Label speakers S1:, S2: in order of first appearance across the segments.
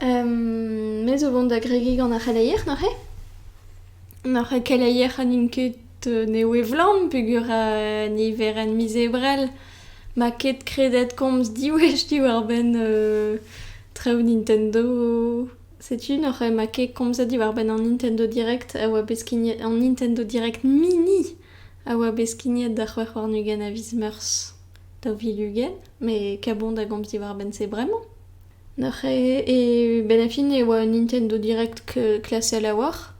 S1: Me zo vont da gregiñ gant ar c'heleier neuze. Neuze keleier ha n'int ket nevez-vlan peogwir niverenn miz Ebrel 'ma ket kredet komz diwech diwar-benn traoù Nintendo. Setu neuze 'ma ket komzet diwar-benn an Nintendo Direct a oa bet skignet an Nintendo Direct Mini a oa bet skignet da c'hwec'h warn-ugent a viz Meurzh daou vil ugent. Met kabout a gomz diwar-benn se bremañ. Neuze e benn ar fin e oa Nintendo Direct klasel a-walc'h,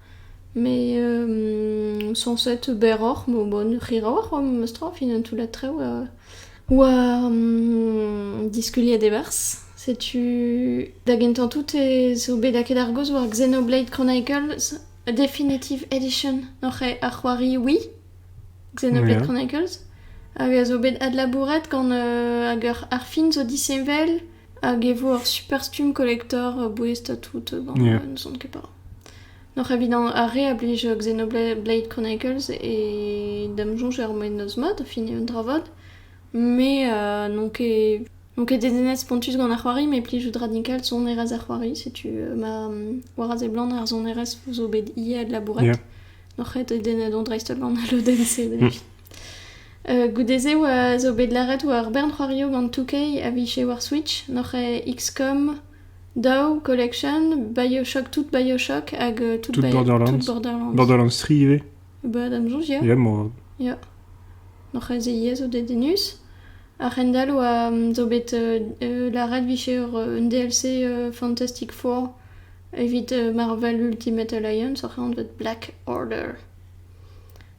S1: met sañset berroc'h, ma bon rir a-walc'h oa memestra o final toullad traoù oa diskuliet e-barzh. Setu da gentañ tout zo bet lakaet ar gaoz war Xenoblade Chronicles Definitive Edition, neuze ar c'hoari Wii, Xenoblade Chronicles, hag a zo bet adlabouret gant hag ar fin zo disheñvel. Hag e vo ur superstumm kolektor bouest ha tout bañ, n'ouzon ket pas. Noc'h evit ar re a blij Xenoblade Chronicles e da'm soñj er mennozh mat a fini un dra vat, met n'on ket n'on ket dedennet spontus gant ar c'hoari met plijout radical sonerezh ar c'hoari, setu ma Waraz e Blant ar sonerezh 'zo bet ivez adlabouret. Noc'h ket dedennet on dreist-holl gant al lodenn-se Goude-se oa zo bet lâret oa ur bern c'hoarioù gant 2K a vije war Switch, n'oc'h XCOM, Dow, Collection, Bioshock, tout Bioshock hag tout Borderlands. Borderlands 3 ivez. Ba d'am soñj ya. Ya, ya. N'oc'h aze ivez zo dedennus. A-hend-all oa zo bet lâret vije ur un DLC Fantastic Four evit Marvel Ultimate Alliance oc'h anvet Black Order.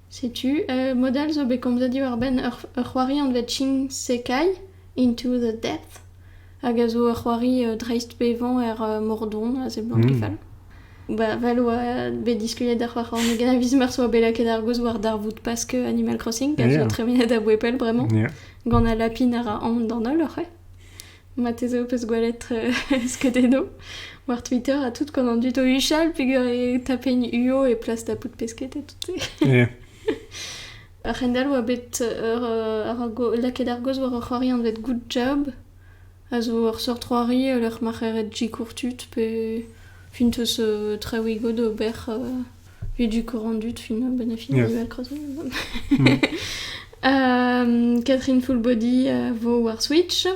S1: Setu, mod all zo bet komzet diwar-benn ur c'hoari anvet Ching-Sekai Into the Death hag a zo ur c'hoari dreistbevañ er Mordon a seblant e fall. Ba, vel oa bet diskuliet da c'hoar c'hornôg en aviz mar soa bet lakaet ar gaoz war darvoud Pask Animal Crossing, a zo tremenet a-bouez pell bremañ, gant al lapin a ra aon d'an holl oc'h eo. Marteze ho peus gwelet skeudennoù war Twitter ha tout gant an dud o huchal peger e tapenn uo e plas da bout pesked ha tout-se. A-hend-all oa bet lakaet ar gaoz war ur c'hoari anvet Good Job a zo ur seurt c'hoari e lec'h ma c'heret G. Courtut pe Funtus Trawigo d'ober Puis du courant-dut, film bénéfique, Yes. Euh, Catherine Fullbody euh, vo war Switch.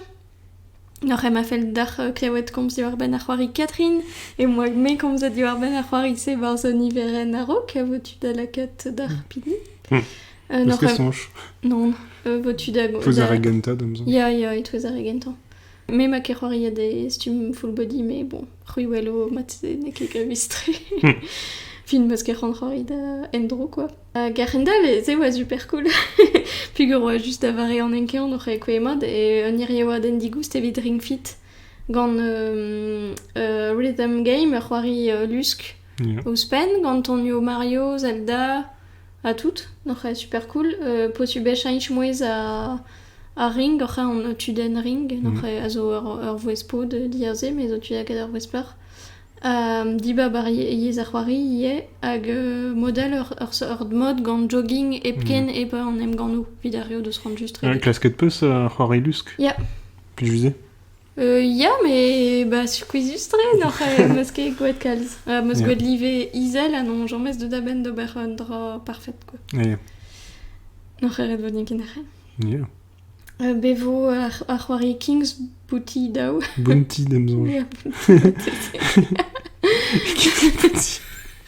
S1: Nor ema fell dac'h euh, klewet komz diwar-benn ar c'hoari Catherine, e moa me komzet diwar-benn ar c'hoari-se barzh niverenn a-raok, vo-tu da lakat d'ar pili Hmm. Euh, Parce nor que ema- songe. Non, euh, vo-tu da... Faut da- zaragenta, dam zon. Ya, ya, it was a regenta. Me 'ma ket c'hoariet e stumm full body, mais bon, c'hwiwello mat-se n'eo ket gavus-tre. Fin 'meus ket c'hoant c'hoari da endro, quoi. Hag a-hend-all ez eo super cool. Pugur oa just da vare an enkean oc'h aekouezh mat e un hirioadenn digoust evit Ring Fit gant euh, euh, Rhythm Game, ur c'hoari euh, lusk ouzhpenn, gant tonioù Mario, Zelda, Ha tout, oc'h eo super cool. Euh, potu bechañch mouezh a- ar ring, oc'h eo an tudenn ring, oc'h eo a zo ur ur vouezh pod diaze, me zo tuiañ ket ur vouezh plac'h. dibab ar ye- yezh ar c'hoari ivez, hag euh, modal ur ur seurt mod gant jogging hepken hep an emgannoù, evit ar re o deus c'hoant just Ah, redek. klasket 'peus ar c'hoari lusk? Ya. Plijousé? Ya, mais bah, je suis quizustrée n'oc'h eh, m'eus ket gouet kalz. Euh, m'eus Ya. gouet live izel ha non, james deus da benn d'ober un dra parfait, quoi. Yeah. N'oc'h eret vo n'eo ket nec'het. Yeah. Euh, be vo ar, ar c'hoari King's Booty daou. Bounty d'em zonge.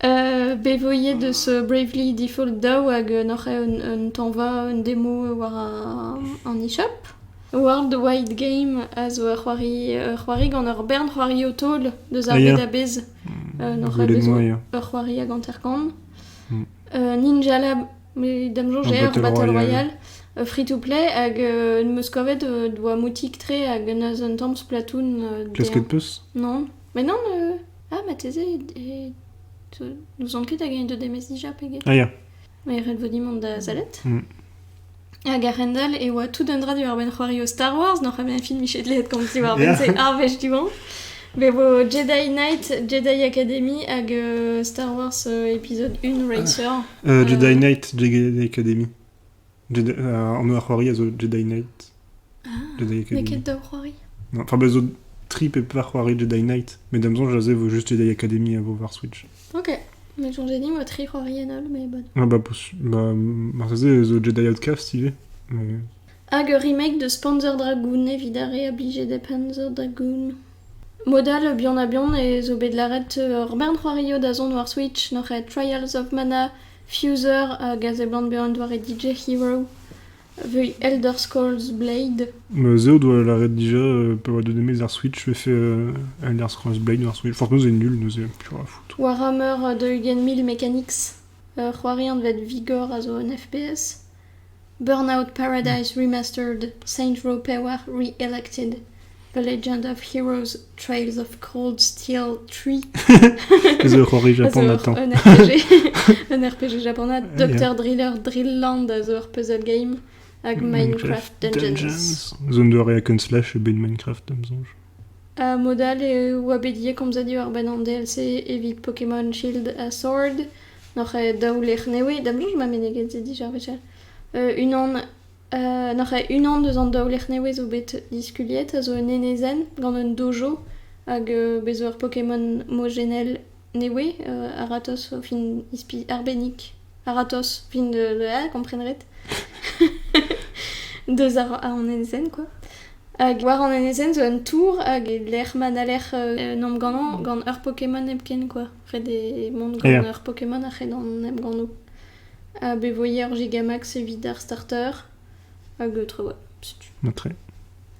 S1: bet 'vo ivez deus Bravely Default daou hag n'oc'h ket un tañva, un demo war an e-shop. World Wide Game a zo ur c'hoari, ur c'hoari gant ur bern c'hoarioù taol deus ar bed a-bezh. N'oc'h ket bezañ ur c'hoari hag hanter-kant. Ninja Lab, da'm soñj eo ar Battle Royale. Free-to-play hag n'em eus kavet doa moutik-tre hag neus un tamm Splatoon. Klasket 'peus? Non. Mais non Ah, marteze e- n'ouzon ket hag eñ deuet da emezi dija pegeit. Ah ya. Mae ret vo din mont da sellet. Mm. Hag a-hend-all e oa tout un dra diwar-benn c'hoario Star Wars, n'oc'h bet un film miche dleet komz diwar-benn, se ar wech du-hont. Be vo Jedi Knight, Jedi Academy hag euh, Star Wars euh, épisode 1 Racer. Euh, Jedi Knight, Jedi Academy. An eur c'hoari a zo Jedi Knight. Ah, n'eo ket daou c'hoari Enfin, bah, zo tri pe pevar c'hoari Jedi Knight. Mais d'am songe, a vo juste Jedi Academy à vo war Switch. Ok. Mais genre, j'ai dit, moi, tri c'hoari en all, mais bonne. Ah, bah, bah marteze zo Jedi Outcast, stylé. Mais... Hag ur remake de Spanzer Dragoon evit ar re obligé de Panzer Dragoon. Modal bihan a bihan e zo bet laret ur bern c'hoario da zont war Switch, noc'h Trials of Mana Fuser hag a seblant bezañ un doare DJ hero veuiñ Elder Scrolls Blade. Se o doa lâret dija pa oa deut e-maez ar Switch 'vefe Elder Scrolls Blade war Switch. Fortnum c'est nul, neuze piv a ra fout. Warhammer 2.000 Mechanics, ur c'hoari anvet Vigor a zo un FPS. Burnout Paradise Remastered Saints Row Pevar Re-Elected The Legend of Heroes Trails of Cold Steel 3 Ez eo ur c'hoari japanat un RPG, un RPG japanat. Doctor Driller Drillland a zo ur puzzle game hag Minecraft, Dungeons. Zo un doare hack and slash ebet Minecraft, am soñj. Uh, mod all eo oa bet komzet eo ar benn an DLC evit Pokémon Shield ha Sword. N'oc'h ket daou lec'h nevez da blij ma meneget-se dija wechall. unan n'oc'h ket unan deus an daou lec'h nevez zo bet diskuliet a zo un enezenn gant un dojo hag bez' zo ur Pokémon mojennel nevez a-ratozh o fin ispilh arbennik a-ratozh fin da kompren ret deus an enezenn kwa. Hag war an enezenn zo un tour hag e lec'h ma n'haller mont ganeñ gant ur Pokémon hepken kwa. Ret eo mont gant ar Pokémon a c'hell an emgannoù. Ha bevoiañ ur Gigamax evit ar starter. Hagtre oa, setu. Atre.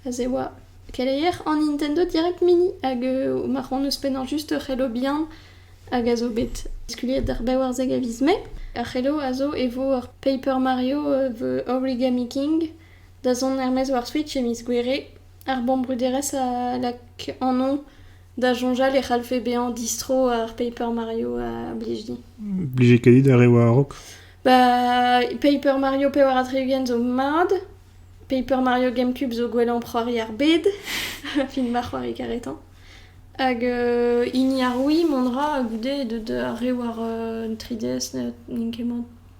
S1: Aze oa keleier an Nintendo Direct Mini hag ma c'hoant ouzhpennañ just ur c'helo bihan hag a zo bet diskuliet d'ar bevarzek a viz Mae. Ar c'helo a zo e vo ur Paper Mario the Origami King da zont er-maez war Switch e miz Gouere. Ar bomm bruderezh a lak an on Da soñjal e c'hallfe bezañ distro ar Paper Mario a blij di. Blije ket dit ar re war a-raok? Ba, Paper Mario pevar ha tri-ugent zo mat. Paper Mario GameCube zo gwellañ c'hoari ar bed, fin ma c'hoari karetañ. Hag euh, hini ar Wii, mont ra goude deut ar re war euh, 3DS n'int ket mat.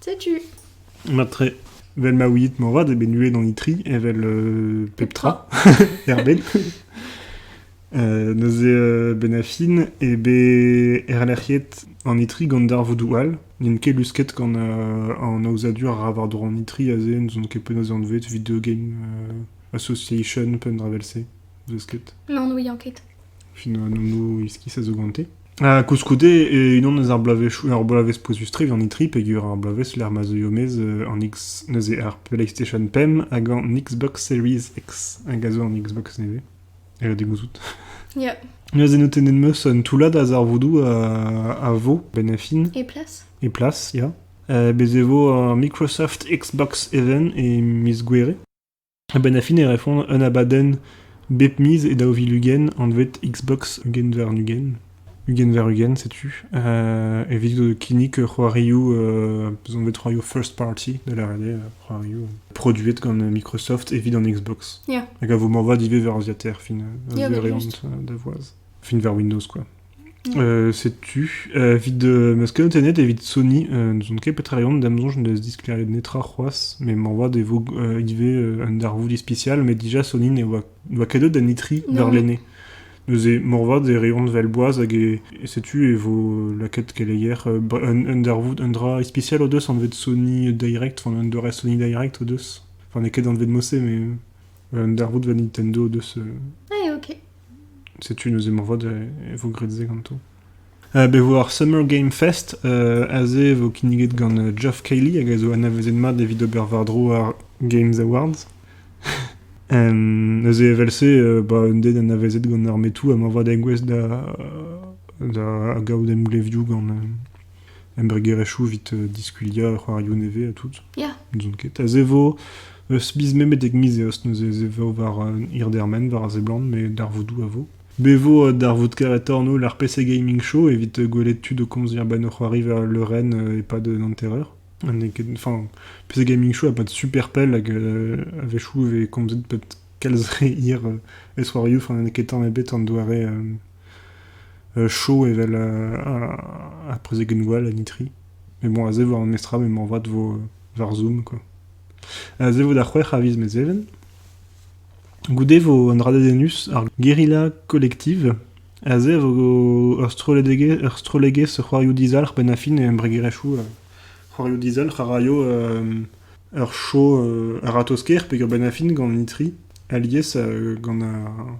S1: Setu. Matre, vel ma ouiit moarvat eo bet nuet an itri evel euh, pep tra erbet. Euh, neuze euh, ben a fin e be erlec'hiet an itri gant darvoudoù all n'int ket lusket gant euh, an aozadur a ra war-dro an itri aze n'zout ket penaos anvet video game euh, association pen dra vel-se n'eus ket. N'en ouian ket. Fin an nommoù iskis a zo gante. Ha koulskoude, e unan eus ar bloavezhioù, ur bloavezh pouezus-tre evit an E3, peogwir ar bloavezh lec'h ma zeuio maez an X, neuze ar PlayStation Pem hag an Xbox Series X, hag a zo an Xbox nevez. E da gouzout. Yeah. Neuze notennet meus un toullad a zarvoudoù a, a vo, ben a fin. Et place Et place, ya. Uh, bez e vo uh, Microsoft Xbox Event e miz Gouere. A-benn ar fin e refont un abadenn bep miz e daou vil ugent anvet Xbox ugent-war-ugent. Ugent-war-ugent, setu. Uh, evit kinnig c'hoarioù, uh, bezonvet c'hoarioù first party, da lâret eo, c'hoarioù produet gant Microsoft evit an Xbox. Yeah. Hag a vo morvat ivez war Aziater, fin, uh, yeah, da voaz. Fin war Windows, quoi. Setu, evit ma skeudennet evit Sony, n'ouzon ket petra eo, da'm soñj n'eus disklêriet netra c'hoazh, met moarvat e vo ivez un darvoud ispisial, met dija Sony ne oa ket deuet d'an itri warlene. Neuze moarvat e reont well boaz hag setu e vo lakaet keleier un darvoud, un dra ispisial o deus anvet Sony Direct, enfin un doare Sony Direct o deus. Enfin n'eo ket anvet Mosse, mais un darvoud war Nintendo o deus... Ah, ok. Setu neuze moarvat e vo graet se ganto. bet e vo ar Summer Game Fest. aze e vo kinniget gant Geoff Cayley hag a zo anavezet mat evit ober war-dro ar Games Awards. neuze evel-se, ba un den anavezet gant ar metoù ha moarvat engouestl da da gaout emglevioù gant embregerezhioù evit diskuliañ c'hoarioù nevez ha tout. Ya. N'ouzon ket. A zevo eus miz Mae betek miz Eost neuze ez vo war hirdermen war a seblant met darvoudoù a vo. Be vo darvoud karetoc'h no l'RPC Gaming Show evit gwelet tud o komz a-benn o c'hoari war le Ren e-pad un hanter-eur. Enfin, PC Gaming Show a pas de super pell hag a-wechoù e vez komzet peut-être kalz re hir e soarioù. Enfin, n'eo ket tamm ebet an doare Chaud evel ar prezegenn gwall en itri. Met bon, aze war memes tra m'emañ vat 'vo war Zoom quoi. Aze 'vo da c'hwec'h a viz Mezheven. Goude 'vo un dra dedennus, ar Guerilla Collective. Aze e vo ur strollegezh, ur strollegezh c'hoarioù dizalc'h 'benn ar fin e embregerezhioù. C'hoarioù dizalc'h a raio ur show a-ratozh-kaer peger 'benn ar fin gant an itri alies gant ar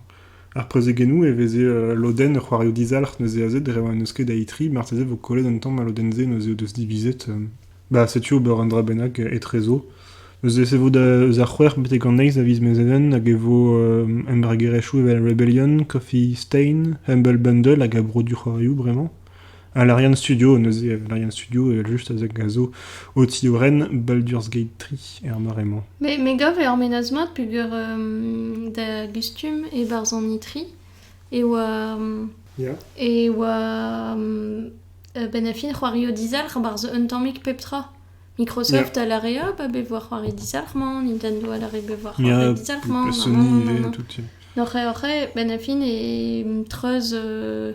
S1: Ar prezegennoù e veze ul lodenn c'hoarioù dizalc'h neuze aze dre ma n'eus ket da itri, marteze vo kollet an tamm a lodenn-se neuze o deus divizet. Ba setu ober un dra bennak etrezo. Neuze se vo eus ar c'hwec'h betek an eizh a viz Mezheven hag e vo embragerezhioù evel Rebellion, Coffee Stain, Humble Bundle hag a bro du c'hoarioù bremañ. Ha l'Ariane Studio, neuze, l'Ariane Studio, evel-just, a zo o tiorren Baldur's Gate 3 er mare-mañ. Me, me gav e ormenaz mat peger um, da gustum e-barzh an itri e oa... Um, yeah. E oa um, ben a-fin c'hoario dizalc'h barzh un tammig pep tra. Microsoft yeah. a la rea ba be voar c'hoari dizalc'h-mañ, Nintendo a la re be voar c'hoari dizalc'h-mañ. Sony, tout. Oc'h oc'h, ben a fin e treuz... Euh,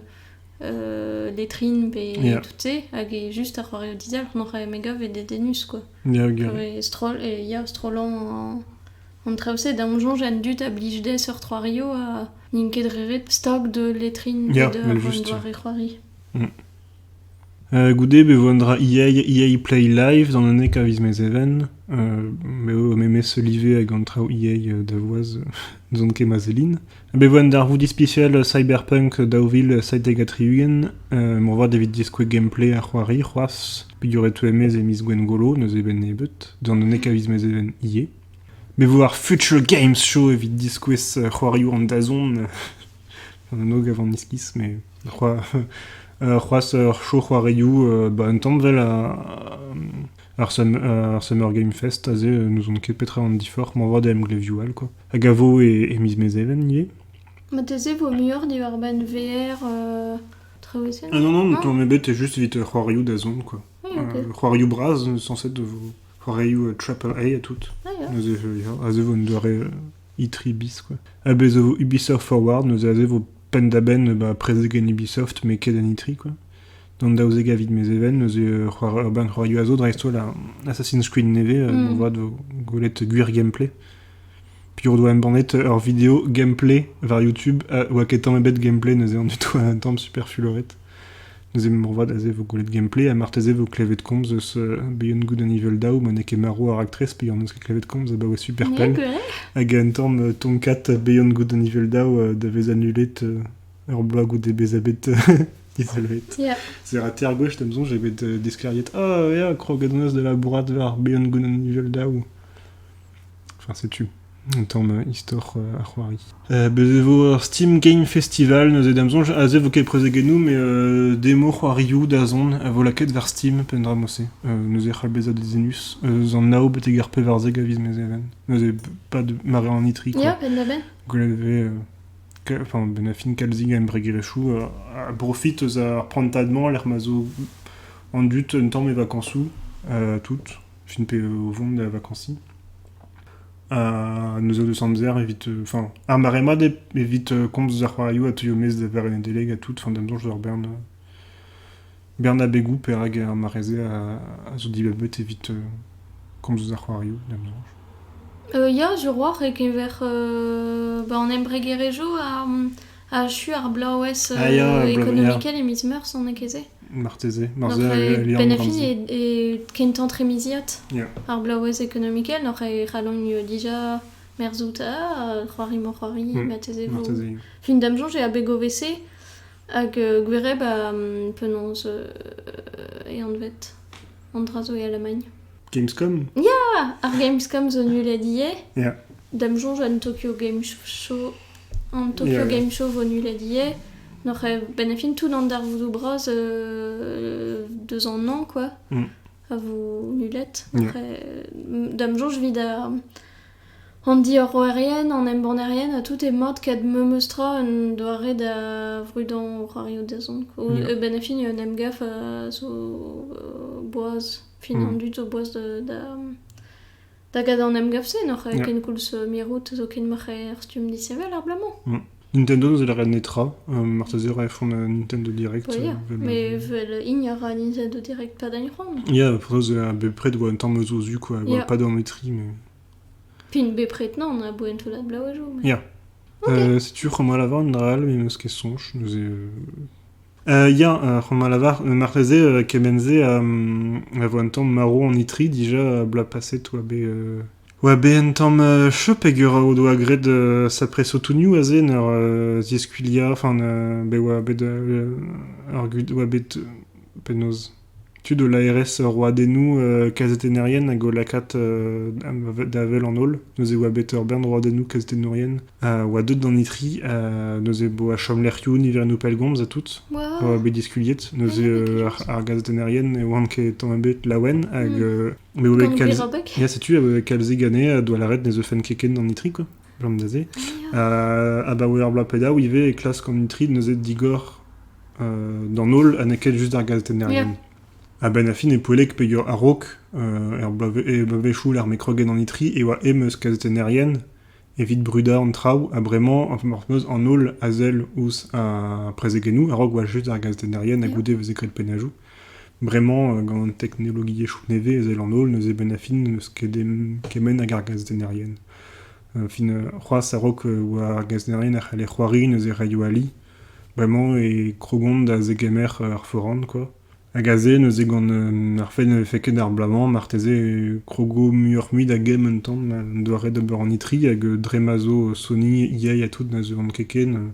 S1: letrin pe tout-se, hag e just ar c'hoarioù dizalc'h m'oc'h aet me gav eo dedennus quoi. Ya, gwir. E stroll, e ya strollañ an traoù-se. Da am soñj an dud a blij dezhe seurt c'hoarioù ha n'int ket re ret stag de letrin pe de un doare c'hoari. Goude be vo un dra EA Play Live d'an aneka viz Mezheven. Me eo o memes live hag an traoù EA da voaz n'ouzon ket ma sellin. Bet e voen darvoud ispisial Cyberpunk daou vil seitek ha tri-ugent. moarvat evit diskouez gameplay ar c'hoari c'hoazh, peogwir e teue maez e miz Gwengolo, n'eus eben nebeut, d'an unnek a viz mez even ivez. Bet e vo ar Future Games Show evit diskouez c'hoarioù an dazont, an anv gav an iskis, mais c'hoazh ur show c'hoarioù, bah, un tanvel a, Ar Summer Game Fest aze n'ouzon ket petra an diforc'h ma 'vat da emglevioù all quoi. Hag a vo e, e miz Mezheven ivez? Ma teze 'vo muioc'h diwar-benn VR euh, traoù-esae Ah non non, ton mes bet juste evit c'hoarioù da zont quoi. Ah, ok. c'hoarioù bras censé de vo c'hoarioù Triple A à tout. Ah, ya. Neuze aze vo une doare itri bis quoi. Ha bez zo Ubisoft Forward, neuze aze vo penn da benn bah, prezeg en Ubisoft mais ket en itri quoi. D'an daouzek a vid Mezheven neuze ur bern c'hoarioù a zo dreist-holl a Assassin's Creed nevez mm. moarvat vo gwelet gwir gameplay. Piv o doa embannet ur video gameplay war YouTube a oa ket tamm ebet gameplay neuze an du tout un tamm super fuloret. Neuze moarvat aze vo gwelet gameplay ha marteze vo klevet komz eus uh, Beyond Good and Evil Daou ma n'eo ket marv ar actrice pe an eus ket klevet komz abaoe super pell. Hag un tamm euh, tonkat Beyond Good and Evil Daou euh, da vez annulet euh, ur bloaz goude bezañ bet Evel c'est ar tier gauche da'm soñj eo bet disklêriet oh ya krogadonos de la bourrade war behan goulenn nivel daou. Enfin setu un tamm istor ar c'hoari. Bez e vo ur Steam Game Festival neuze da'm soñj aze vo ket prezegennoù met demo c'hoarioù da zont a vo lakaet war Steam peadra mod-se neuze c'hall bezañ dezenus eus an nao betek ar pevarzek a viz mezheven neuze pad mare an itri quoi. Ya penn da benn. Gwell e vez benn a fin kalzik embregerezhioù a brofit eus ar prantad-mañ lec'h ma zo an dud un tamm e vakañsoù tout fin pe o vont da vakañsiñ. Ha neuz out eus amzer evit enfin ar mare-mañ evit komz eus ar c'hoarioù a teuio maez da varrenn Nedeleg ha tout fin d'am soñj d'ur bern Bern abegoù perak ar mare-se a zo dibabet evit komz eus ar c'hoarioù da soñj. Ya, Juruoc'h e-keñver ba an embregerezhioù achu ar bloavezh ekonomikel e miz Meurzh on ket-se. Marteze. Marteze al liamm benefis eo kentañ tremiziad ar bloavezh ekonomikel n'hoc'h e c'hallomp dija merzout c'hoari-mañ-c'hoari marteze fin da soñj eo abeg o wese. Hag gwereb ha penaos e anvet an dra zo e Alamagn? Gamescom? Ya! Ar Gamescom zo nullet ivez. Ya. D'am soñj an Tokyo Game Show an Tokyo Game Show vo nullet ivez. N'oc'h a-benn a fin tout an darvoudoù bras deus an hañv quoi a vo nullet. Da'm soñj 'vit ar An diorroerien, an embannerien ha tout emaot ket memes tra en doare da vrudañ c'hoarioù dazont. E benn ar fin, un emgav a zo boaz, fin an dud zo boaz da da gadañ an emgav-se, n'oc'h ket koulz mirout zoken oc'h er stumm disheñvel ar bloaz-mañ. Nintendo ne zellere netra, marteze a rae foan Nintendo Direct. Ja, mais vel hini a ra Nintendo Direct pa dagn c'hoant. Ya, penaos bepred oa un tamm eus o zu, quoi, oa pas dormetri, mais... Fin bepred nan, a boa un toullad blau a jo. Ya. Okay. Setu c'hoant malavar un dra all, me meus ket soñj, neuze... Ya, c'hoant a lavar, marteze kement-se a vo un tamm marv an itri dija bloaz paset oa bet... oa bet un tamm cheu peger o doa graet sapre sotounioù aze en ur ziskuilhañ, enfin bet oa bet penaos... penaos... tud o laerezh roadennoù kazetennerien hag o lakaat da wel an holl. Neuze e oa bet ur bern roadennoù kazetennourien a oa deut d'an itri. neuze e oa chomlec'hioù niverennoù pellgomz ha tout a oa bet diskuliet. neuze ar gazetennerien ne oant ket tamm ebet laouen hag... Ya setu, a oa bet kalzik anezhe a doa lâret ne zeufen ket ken d'an itri, quoi. gant neuze. abaoe ur bloaz pe daou ivez e klask an itrid neuze digor d'an holl ha n'eo ket just ar gazetennerien. A-benn a fin e poellek peger a-raok er bloavezhioù lec'h m'eo kroget an itri e oa em eus kazetennerien evit brudañ an traoù ha bremañ meus an holl a sell ouzh ar prezegennoù a-raok oa just ar gazetennerien ha goude veze graet pennajoù. Bremañ, gant an teknologiezhioù nevez ezel an holl neuze benn ar fin n'eus ket kement hag ar gazetennerien. Ar fin c'hoazh a-raok war ar gazetennerien e c'haller c'hoari neuze radio-ali. Bremañ e krogont da zegemer ar foran kwa. Hag aze neuze gant ar fait ne vefe ket ar bloaz-mañ marteze e krogo muioc'h-mui da gemm un tamm an doare d'ober an itri hag dre ma zo Sony, EA ha tout neuze on ket ken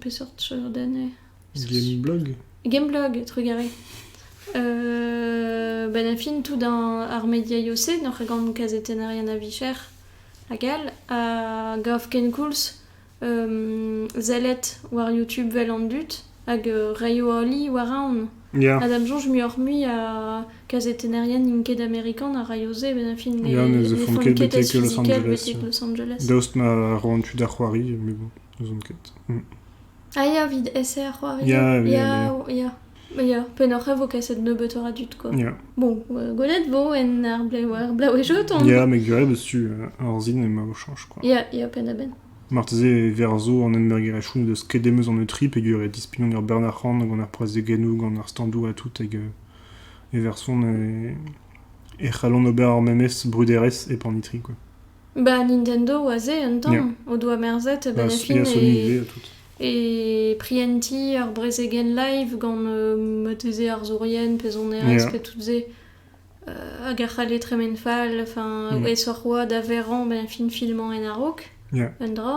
S1: Peseurt den eo Gameblog Gameblog, trugarez. Euh, ben, a fin tout dans ar media iose, nor gant kazetenn a rien a vicher, hag all, a gav kenkoulz euh, zelet war YouTube vel an dut, hag euh, reio oli war aon. Yeah. A dam sonj muioc'h mui a kazetenn a rien n'int ket amerikan a raio se, ben a fin ne yeah, ne, ne font ket betek Los Angeles. Betek Los Angeles. Daoust ma roan tu da c'hoari, mais bon. N'ouzon ket. Mm. Ah ya, evit SR c'hoari. Ya, oui, ya, ya, ya. Pennoc'h e vo kaset nebeutoc'h a dud, quoi. Ya. Bon, euh, gwelet vo en ar blev ar blaouezho ton. Ya, met gwell eus tu euh, ar zin emañ o chanch, quoi. Ya, ya, penn-a-benn. Marteze e ver zo an enberger echoun deus kedemeus eus an eutrip peger e dispignon ar Bernard C'han gant ar prezegennou gant ar standou ha tout hag e verson e, e c'hallon ober ar memes bruderez e panitri, quoi. Ba Nintendo aze un tamm o doa merzet benefin e e prientiñ ur brezegen live gant moteze arzourien pezhoneresk ha tout se hag a c'halle tremen fall, enfin aesoc'h oa da verañ benefin filmañ en a-raok un dra.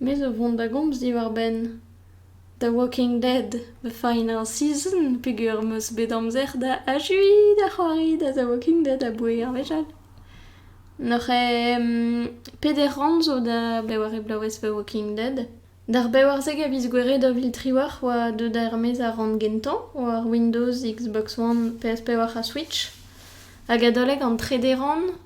S1: Me zo vont da gomz diwar-benn The Walking Dead The Final Season peogwir 'm eus bet amzer da achuiñ da c'hoari da The Walking Dead aboe ar wech all. N'oc'h peder rann zo da beware bloavezh The Walking Dead. D'ar bevarzek a viz Gouere daou vil triwec'h oa deuet er-maez ar rann gentañ war Windows, Xbox One, PS5 ha Switch. Hag adalek an trede rann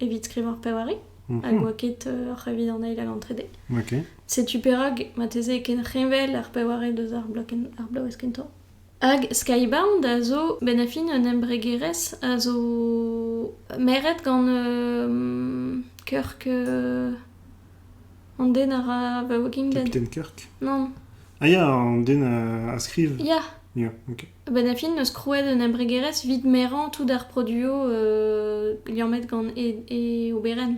S1: evit skrivañ ur pevar mhm. hag oa ket uh, ar c'hevit an eil hag an trede. Okay. Setu perak mateze e ken c'heñvel ar pevarel deus ar bloavezh kentañ. Hag Skybound a zo ben a fin un embregerezh a zo meret gant uh, Kirk... Uh, an den a ra Vaouging Den. Captain Kirk Non. Ah ya, an den a, a skrive. Ya. Ya, ok. Benn a fin 'neus krouet un embregerezh 'vit merañ tout ar produioù liammet gant e, e oberenn.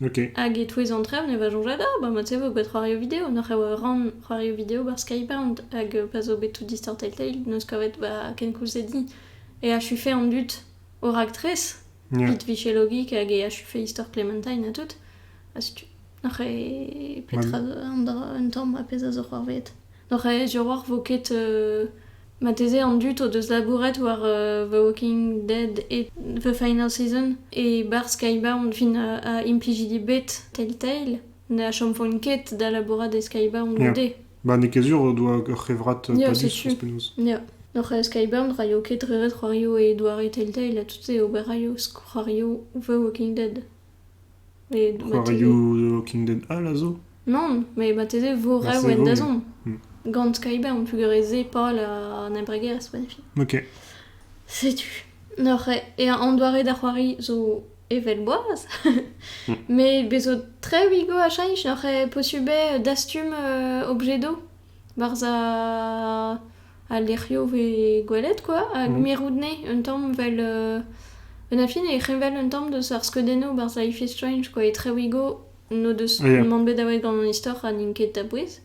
S1: Ok. Hag e-touez an traoù 'neus va soñj da, bah mod-se 'vo bet c'hoarioù video. N'oc'h eo ran c'hoarioù video 'barzh Skybound hag pa zo bet tout Distorted Tale 'neus kavet 'ba kenkoulz-se dit. Et achu fait an dud o raktres. It vije logik hag e achufe istor Clementine ha tout. Ha setu, n'oc'h eo petra an dra, un tamm ha pezh a zo c'hoarvezet. N'oc'h eo Diorroch vo ket euh, marteze an dud o deus labouret war euh, The Walking Dead et The Final Season. E bar Skybound fin a, a implijidi bet Telltale ne achomfont ket da labourat e Skybound goude. Ba n'eo ket sur o doa ur c'hevrad padus ouzh penaos. Ya, oc'h Skyburn ra eo ket re ret c'hoarioù e doare Telltale ha tout-se ober raio c'hoarioù The Walking Dead. Met C'hoarioù The Walking Dead all a zo? Non, met marteze vo rev en dazont. Gant Skyburn peogwir ez eo pal an embregerezh, pa ne fi. Ok. Setu. Oc'h e an doare da c'hoari zo Evel boaz. Mais bezo tre wigo a cheñch n'oc'h eo posubl eo dastum euh, objet d'eau barzh a- al lec'hioù vez gwelet quoi, hag Mhm. mirout nez un tamm 'vel euh, un a fin e c'heñvel un tamm deus ar skeudennoù barzh Life is Strange quoi, e Trewigo n'o deus Yeah. mann bet aweet gant an istor ha n'int ket a bouez.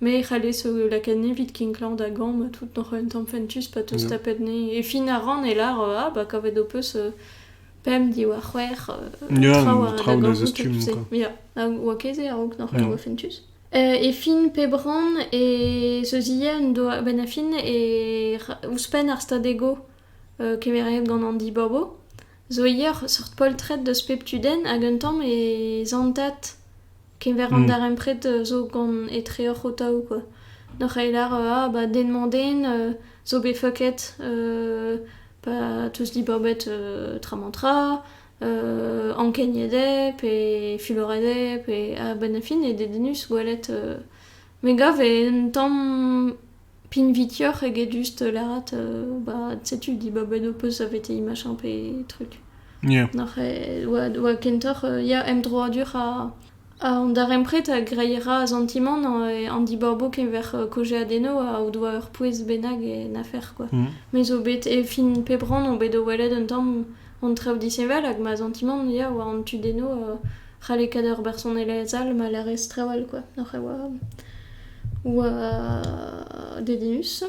S1: Mais e c'hallez o lakaat nez evit kinklañ da gamm ha tout n'oc'h un tamm fentus pa 'teus Yeah. tapet nez. E fin ar rann e lar euh, ah bah kavet ho peus euh, pemp diwar c'hwec'h euh, Ya, traoù a traoù da da zastumm, gontout, quoi. Ya, hag oa ket se a-raok nac'h Ya. oa fentus. Euh, e fin pep rann, e zeuzie un doa a-benn a fin, e r- ouzhpenn ar stad ego euh, kemeret gant an dibabo, zo ivez ur seurt poltred deus pep tudenn, hag un tamm e zantat Keñver an darempred zo gant etreoc'h o-taou kwa. N'oc'h ket lar ah ba den-mañ-den zo bet fucket pa 'teus dibabet tra-mañ-tra ankeniet eo pe fuloret eo pe a-benn ar fin eo dedennus gwelet. Me gav eo un tamm pinvidioc'h eget just lâret ba setu dibab un ho peus saveteiñ machin pe truc. Yeah. Nac'h eo oa oa kentoc'h ya emdroadur ha ha an darempred a greiera a santimant an dibaboù keñver kaozeadennoù o doa ur pouez bennak en afer kwa. Me zo bet e fin pep rann on bet o welet un tamm An traoù disheñvel hag ma santimant ya oa an tudennoù c'halle kaout ur bersonelezh all ma lârez trawal kwa oc'h e oa oa dedennus.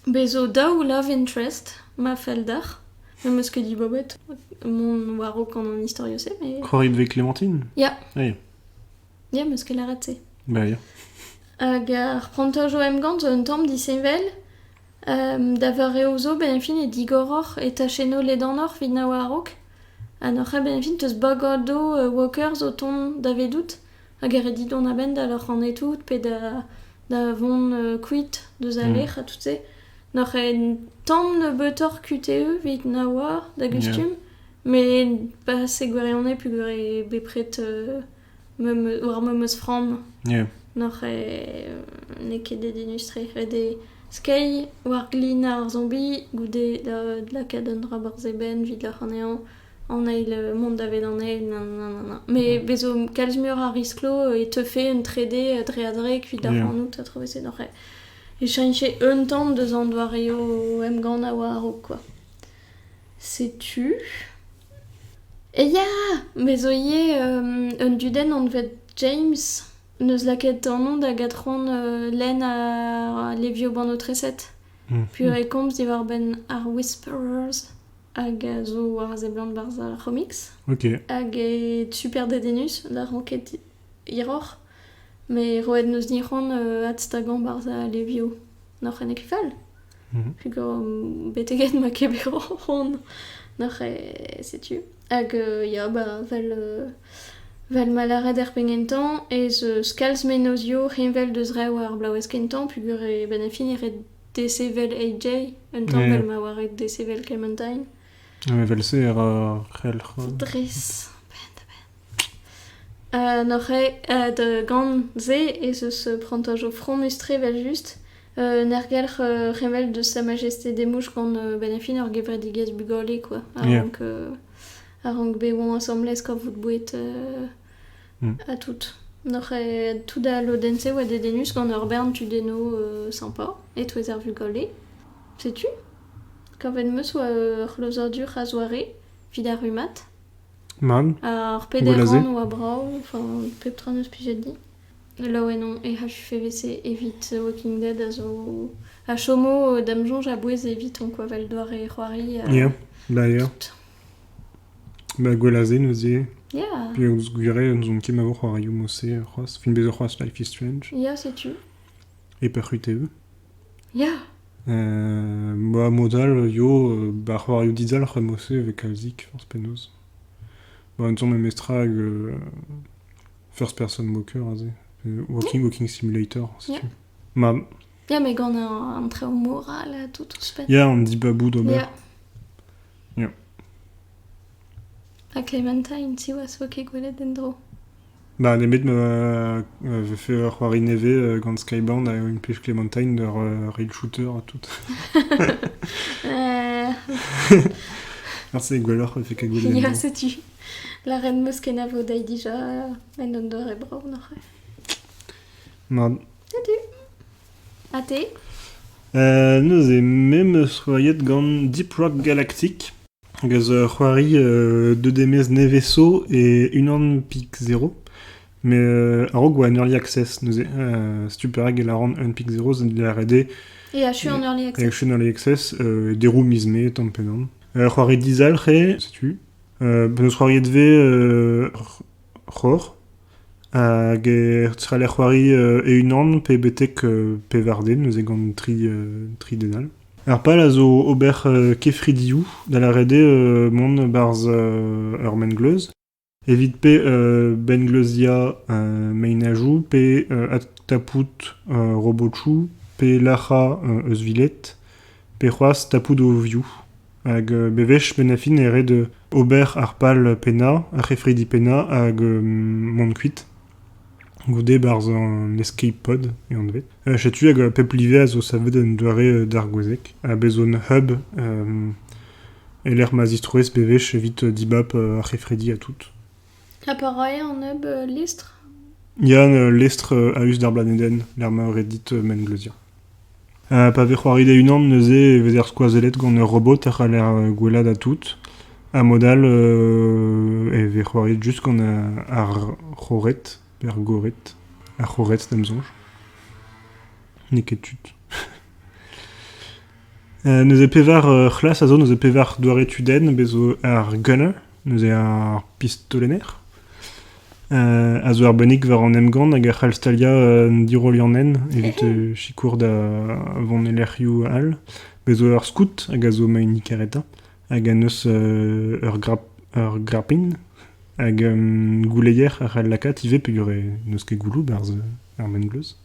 S1: Bez zo daou love interest ma fell deoc'h. N'am eus ket dibabet mont war-raok gant an istorioù-se mais... C'hoarit vez Clémentine? Ya. Ya. Ya, 'm eus ket lâret se. Ba ya. Hag ar prantajoù emgann zo un tamm disheñvel Da vareoù zo benefit eo digoroc'h e tachennoù ledanoc'h evit na oa a-raok ha n'oc'h ket benefit eus bagadoù workers o tont davedout hag e ret dit dont a-benn da loc'hanañ tout pe da vont kuit deus al lec'h ha tout-se. N'oc'h ket tamm nebeutoc'h kuitaü evit na oa da gustum met pas e gwirionez peogwir eo bepred War ma meus framm n'oc'h n'eo ket da denus-tre. Ret eo skeiñ war glin ar zombie goude da lakaat un dra barzh e benn evit ac'hanehañ an eil mont daved an eil nananana. Met bez 'zo kalz muioc'h a riskloù e teufe un trede dre-ha-dre evit ac'hanout ha travese n'oc'h e cheñche un tamm deus an doareoù emgann a oa a-raok kwa. Setu. Ya! Me zo ivez un dudenn anvet James. Neus lakaet anv da gatron lenn ha levioù bannoù-treset. Puilh e komz diwar-benn ar Whisperers hag a zo war a seblant barzh ar c'homiks. Ok. Hag eo super dedennus da ranked hiroc'h, met roet n'eus dic'hoant adstagañ barzh a levioù n'oc'h en école. Mhm. Pugañ beteget ma ket bet o c'hoant n'oc'h e setu. Hag ya ba vel vel ma lâret er penn-kentañ ez eus kalz mennozhioù heñvel deus re war ar bloavezh kentañ pugur e benn ar fin e ret desevel AJ un tamm Yeah. vel ma oa ret desevel Clementine. Ah, Evel-se e ra ar c'helc'h. Dres, a-benn da-benn. Neuze da gant-se ez eus prantajoù fromus-tre evel-just. Un aergelc'h revel deus Sa Majesté Desmouches gant bennafi ur gevredigezh bugale kwa, a-rank a-rank bet oan asambles kavout boued ha tout. Neuze tout al lodenn-se oa dedennus gant ur bern tudennoù sympa e-touez ar vugale. Setu. Kavet 'm eus oa ur c'hlozadur a-zoare evit ar rummad. Mann. Ar pederant oa brav, enfin pep tra n'eus plijet din. Laouen on e HUFVC evit Walking Dead a zo... a chomo da'm soñj a-bouez evitañ kwa 'vel doare c'hoari ha... Ya, d'ailleurs. Ba Gwelazé neuze. Ya. Penaos gwir eo n'ouzon ket ma vo c'hoarioù mod-se c'hoazh. Fin bezañ c'hoazh Life is Strange. Ya, setu. E Perc'huteu. Ya! Ba mod all eo ba c'hoarioù dizalc'h emaout-se evit kalzik forzh penaos. Ba un tamm memestra hag first person walker aze, walking walking simulator setu. Ma... Ya, met gant an traoù moral ha tout ouzhpenn. Ya, an dibabou d'ober. Ya. Ha Clementine, siwazh 'vo ket gwelet en-dro. Ba nemet ma vefe ur c'hoari nevez gant Skybound a implij Clementine d'ur rail shooter ha tout. c'est gwelloc'h fait que gwelet Ya, setu. La reine meus kenavo dai dija en un dor e brav, noc'h. Ma. Salut. Ha te ? Neuze me 'm eus c'hoariet gant Deep Rock Galactic, hag a zo ur c'hoari deux démesses nevez-zo e unan pik zero. Met a-raok e oa en Early Access neuze, setu perak e lâran un pik zero, ça dit ret eo. Et achu en Early Access. Et achu en Early Access, et deroù miz Mae, tamm pennan. Ur c'hoari dizalc'h eo, setu. 'm eus c'hoariet 'vez c'hor hag e c'haller c'hoari e-unan pe betek pevar-den neuze gant tri den all. Ar pal a zo ober kefridioù, da lâret eo mont barzh ur mengleuz evit pe bengleuziañ meinajoù pe adtapout robotoù pe lac'hañ euzhviled. pe c'hoazh tapout o vioù. Hag bewech benn ar fin e red ober ar pal pennañ, ar c'hefridi pennañ hag mont kuit goude barzh an escape pod e anvet. Setu hag pep live a zo savet un doare d'ar gwezeg ha bez' on hub e-lec'h ma zistrouez bewech evit dibab ar c'hefridi ha tout. Ha pa rae an neb lestr Yann, ul lestr a-us d'ar blanedenn, lec'h ma eo ret dit mengleuzia. pa vez c'hoariet e-unan neuze e vezer skoazellet gant ur robot a c'haller gwellaat ha tout. Ha mod-all e vez c'hoariet just gant ar c'hored, pe ar gored. Ar c'hored, d'am soñj. N'eo ket tud. Neuze pevar c'hlas a zo, neuze pevar doare tudenn, bez' zo ar gunner, neuze ar pistolenner, a zo arbennik war an emgann hag a c'hall staliañ un dirollianenn evit sikour da vont e lec'hioù all. Bez' zo ur skout hag a zo maen kareta hag a neuz ur grapin hag gouleier a c'hall lakaat ivez peogwir n'eus ket gouloù 'barzh ar mengleuz.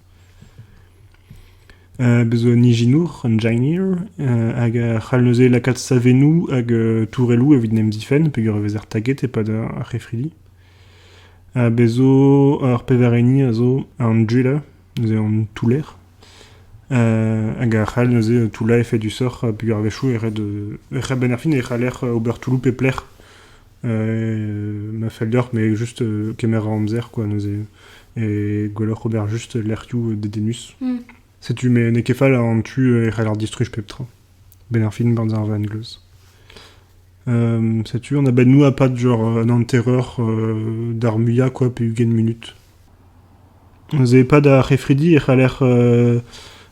S1: Bez zo un ijinour, un engineer, hag a c'hall neuze lakaat savennoù hag tourelloù evit en em zifenn peogwir e vezer taget e-pad ar c'hefridi. Ha bez zo ur pevar hini a zo an driller, neuze an touller, hag a c'hall neuze toullañ efedusoc'h peogwir a-wechoù e red e c'h- a-benn ar fin e c'haller ober toulloù pep lec'h. ma fell deoc'h, met just kemer an amzer, quoi, neuze. Et gwelloc'h ober juste lec'hioù dedenus. Mm. Setu, mais n'eo ket fall an tu e c'haller distruj pep tra. Ben ar fin gant ar vangleuz. Euh, setu, on a ben nous à pas genre un enterreur euh, d'armuia quoi, pe ugent minutes. Neuze e-pad ar c'hefridi e c'haller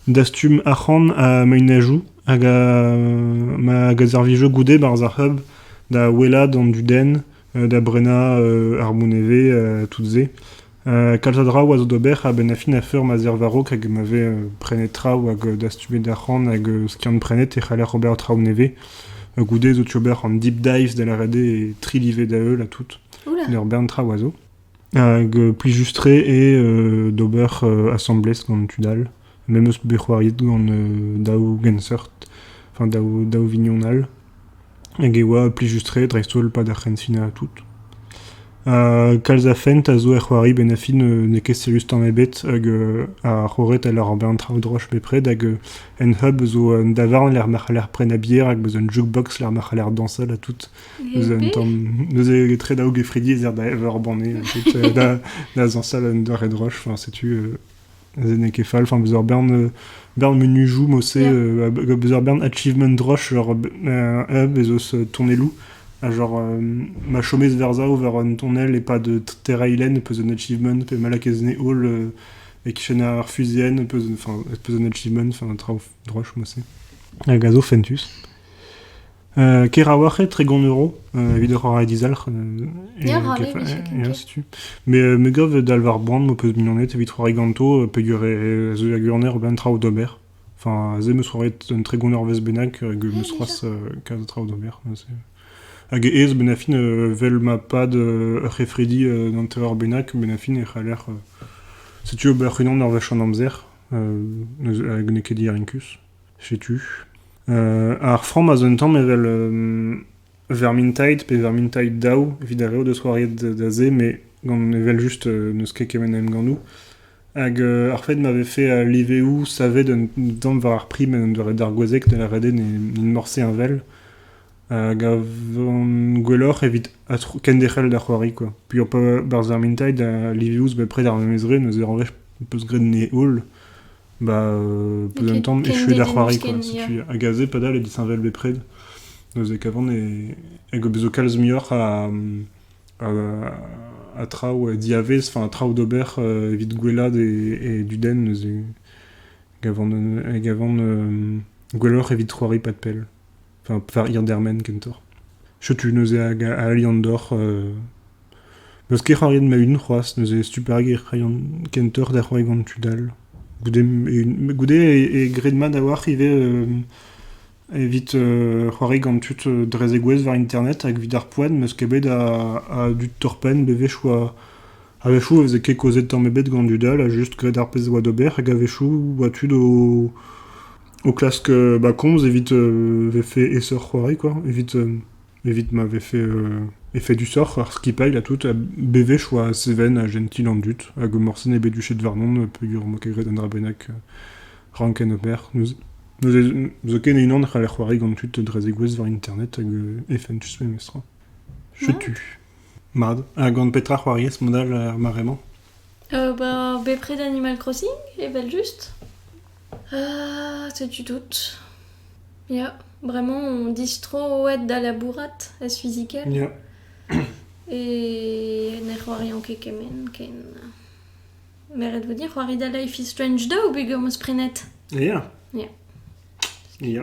S1: dastum arc'hant ha meinezioù hag ma gazervijio goude barzh ar c'hub da ouelaat an dudenn, da brenañ ar mont e vez ha tout se. Kalz a draoù a zo d'ober a-benn ar fin a feur ma zerv a-raok hag ma vez prenet traoù hag dastumet arc'hant hag skiant-prenet e c'haller ober traoù nevez. Goude zo tu ober an deep dives da lâret eo, e tri live da heul ha tout. Ur bern traoù a zo. Hag plijus-tre eo d'ober asambles gant tud all. Me 'm eus bet c'hoariet gant daou genseurt, enfin daou daou vignon all. Hag e oa plijus-tre dreist-holl pad ar c'hensina ha tout. kalz a fent a zo er c'hoari 'benn ar fin n'eo ket serius tamm ebet hag ar c'horet a lâr ober an traoù droch bepred hag un hub zo un davarn lec'h ma c'haller prenañ bier hag 'm eus un jukebox lec'h ma c'haller dañsal ha tout. Neuze, un tamm, neuze etre daou gefridi ez ec'h da ever ur banne. Ensuite, euh, da, da zañsal un doare droch. Enfin, setu, euh, neuze n'eo ket fall. Enfin, beus ur bern, euh, bern menujoù mose, Yeah. euh, ha beus ur bern achievement droch, genre euh, un hub ez eus euh, tonnelloù. Ha genre, euh, ma chomez vers ça ou vers un tonnel et pas de terrailen peus un achievement, pe malak ez ne hall euh, e kichen ar fusienne peus, enfin, peus un achievement, enfin, un traoù droch mose. Hag a zo fentus. Ker a-walc'h eo, tregont euro evit ur c'hoari dizalc'h. Diàr ar leve, setu. setu. Me, me gav dal war boan m'ho peus mignoned evit c'hoari ganto peger a zeu ag Urner a-benn traoù d'ober. Enfin, aze em eus roet un tregont eurvezh bennak hag em eus c'hoazh kalz a traoù d'ober. Hag aes benn ar fin, vel ma pad ur c'hefridi d'an teveur bennak, benn ar fin e c'haller... setu ober unan ur wech an amzer. Hag n'eo ket diarinkus. Setu. ar framm a zo un tamm evel vermintide pe vermintide daou evit ar re o deus c'hoariet da se met gant evel-just n'eus ket kement a emgannoù. Hag ar fait ma vefe al liveoù savet un tamm war ar prim en un doare dargouezhek ne lâret eo n'int morse heñvel a gavan gwelloc'h evit kenderc'hel da c'hoari quoi. Puilh pa barzh vermintide ha liveoù zo bepred ar memes re, neuze en vefe 'peus graet 'nez holl. Bah, euh, peu d'un temps, échouer da c'hoari, quoi. Setu, hag aze, padal, e disheñvel bepred. Neuze, kavan e, hag bezo kalz muioc'h a, a, a traoù diavez, enfin, traoù d'ober euh, evit gwellad et, et du den, neuze, gavan, gavan euh, gwelloc'h evit c'hoari pas de pell. Enfin, enfin Iandermen kentoc'h. Setu neuze hag a Liandor. Euh... N'eus ket c'hoariet ma-un c'hoazh, neuze super ger kentoc'h da c'hoari gant tud all. Goude, goude e, gred mat a-walc'h ivez euh, evit euh, c'hoari gant tud euh, dre zegouezh war internet hag evit ar poent, m'eus ket bet a, a dud torpenn bewech oa a-wechoù e veze ket kaozet tamm ebet gant dud all, a just gred ar pezh oa d'ober hag a-wechoù oa tud o o klask ma komz evit vefe aesoc'h c'hoari kwa, evit evit ma vefe efedusoc'h ar skipailh ha tout, ha bewech 'oa Seven ha Gentil an dud, hag morse n'eo bet duchet warnon peogwir 'm boa ket graet un dra bennak ranken ober. N'eus ket unan a c'haller c'hoari gant tud dre zegouezh war internet hag efentus memestra. Setu. Mat. Ha gant petra c'hoariez mod all ar mare-mañ? Bah bepred Animal Crossing, evel-just. setu tout. Ya, vraiment, on dise trop ouais da labourat ez fizikel. Ya. E ne c'hoarian ket kement ken. Me ret vo dir c'hoari da Life is Strange 2 peger 'm eus prenet. Ya. Ya. Ya.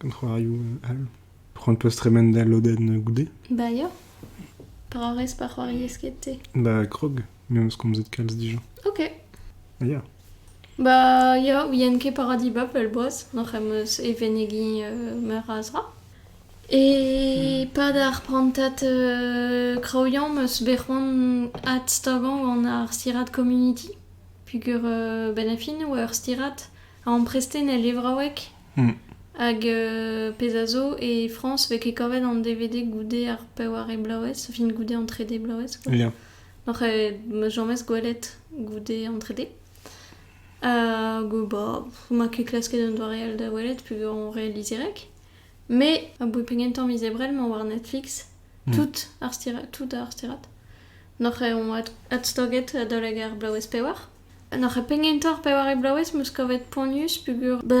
S1: gant c'hoarioù all. C'hoant 'peus tremen da lodenn goude Ba ya. Dra rez pa c'hoariez ket te. Ba krog, me 'meus komzet kalz dija. Ok. Ya. Ba ya, ouien ket paradis ba pellboaz, hoc'h eus e vennegiñ euh, meur a zra. E pad ar prantad euh, kraoùiañ 'meus bet c'hoant adstagañ gant ar stirad Community. Pugur euh, benn ar fin 'oa ur stirad amprestez e levraoueg hag pezh a zo e Frañs 'vez ket kavet an DVD goude ar peware bloavezh fin goude an trede bloavezh quoi. Ya. Oc'h ma james gwelet goude an trede. Hag bah ma ket klasket un doare all da welet peogwir on re lizirek. Mais aboe pegen tamm miz Ebrel 'mañ war Netflix tout ar sterat tout ar sterat. Noc'h eo on adstaget adalek ar bloavezh pewar. En hoc'h penn gentañ ar pevare bloavezh 'm eus kavet poanius peogwir ba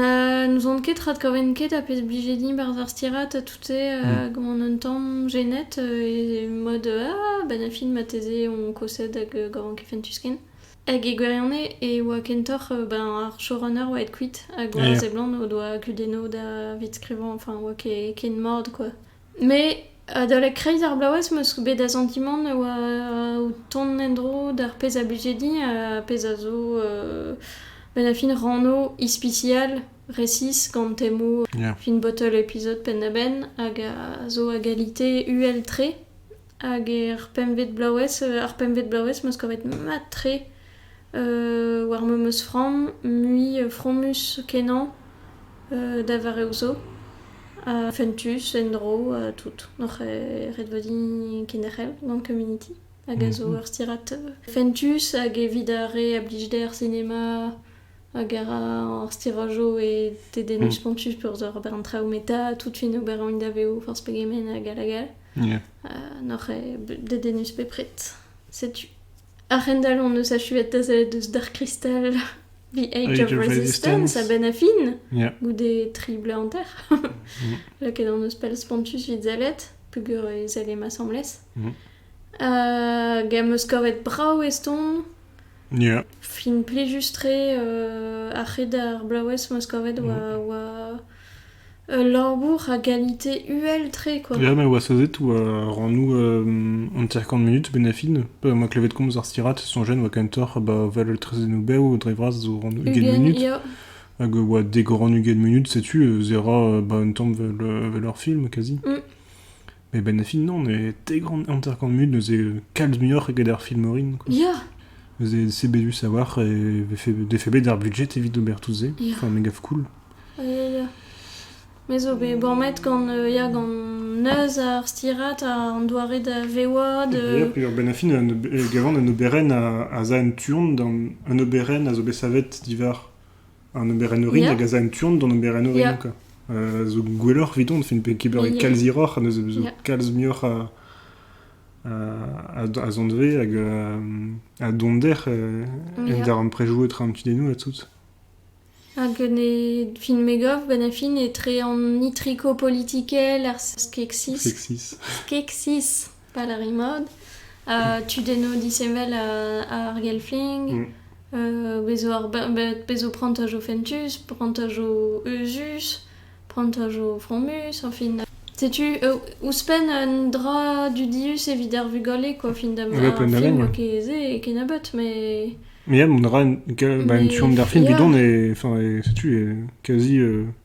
S1: n'ouzon ket adkaven ket ha pezh 'blije din 'barzh ar stirad ha tout-se ha gant un tamm jenet e mode ah ben a fin marteze on kosed hag gavan ket fentus ken. Hag e gwirionez e oa kentoc'h ben ar showrunner oa aet kuit hag oa a seblant o doa kudennoù davit skrivañ enfin oa ket ken mat quoi. Met adalek kreiz ar bloavezh 'm eus bet da santimant e oa o tont en-dro d'ar pezh a blije din, ar pezh a zo benn ar fin ranno ispisial resis gant temoù fin bottle episode penn-da-benn hag a zo a galite uhel-tre. Hag er pempvet bloavezh, ar pempvet bloavezh 'meus kavet mat-tre war memes framm, mui fromus kenañ da vareoù zo. Ha fentus en-dro ha tout. Oc'h ret vo din kenderc'hel gant community hag a zo ur stirad fentus hag evit ar re a blij dezhe ar sinema Hag a ra ar stirajo e dedennoù mm. spontus pour ober un traoù meta, tout fin ober un daveo forzh pegement hag hag hag yeah. uh, N'oc'h eo dedennus bepred. Setu. A-hendall hon eus achuet da sellet eus Dark Crystal The Age, of, Resistance, a benn a fin, goude tri bleu an terre. mm. Lakaet hon eus pell spontus vit zellet, peger e zelle ma asambles. Mm. Uh, Gam eus kavet brav eston, Ya. Film plijus-tre ar c'hed ar blaouez 'm eus kavet oa oa ul labour a galite uhel-tre quoi. Ya ma oa sauzet oa rannoù hanter-kant munut benefil. Ma klevet komz ar stirad soñjen oa kentoc'h ba val traezhennoù bev dre vras zo rannoù ugent munut. Ya. Hag oa dek rann ugent munut setu zera ba un tamm vel ur film kazi. Eben e Finland e tegront hanter-kant munut neuze kalz muioc'h eget ar film orin. quoi. Ya, Neuze c'est bédu savoir et vefe- defe bet ar budget evit ober tout se. Ya. Enfin, me gav cool. ya, ya. Me zo bet bormet gant, euh, ya, gant neuz ar stirat, an doare da vewañ, de... Et puis, ben a fin, un ob- e gavan un oberenn a, a za en tuon, d'an- un oberenn a zo bet savet divar An oberenn orin hag a za en tu-hont d'an oberenn orin, Yeah. quoi. Euh, zo gwelloc'h evidon, fait ket beuret Yeah. kalz hiroc'h, neuze zo Yeah. kalz muioc'h a, a, a zanvez hag euh, a donder euh, en Yeah. daremprejou etre an tudennou ha tout. Hag ne fin megov, ben a fin etre an nitriko politikel, ar skeksis. Sexis. Keksis. Pal ar rimod, tudennoù disheñvel ar gelfling, mm. euh, bezo, ar, bezo prantajoù fentus, prantajoù euzhus, prantajoù fromus, en fin. Setu, euh, ouzhpenn un dra dudius evit ar vugale, quoi, fin da ma film kezé e kennebeut, mais... Mais il y a un dra, un film d'ar film bidon, et, enfin, et setu, est quasi... Euh,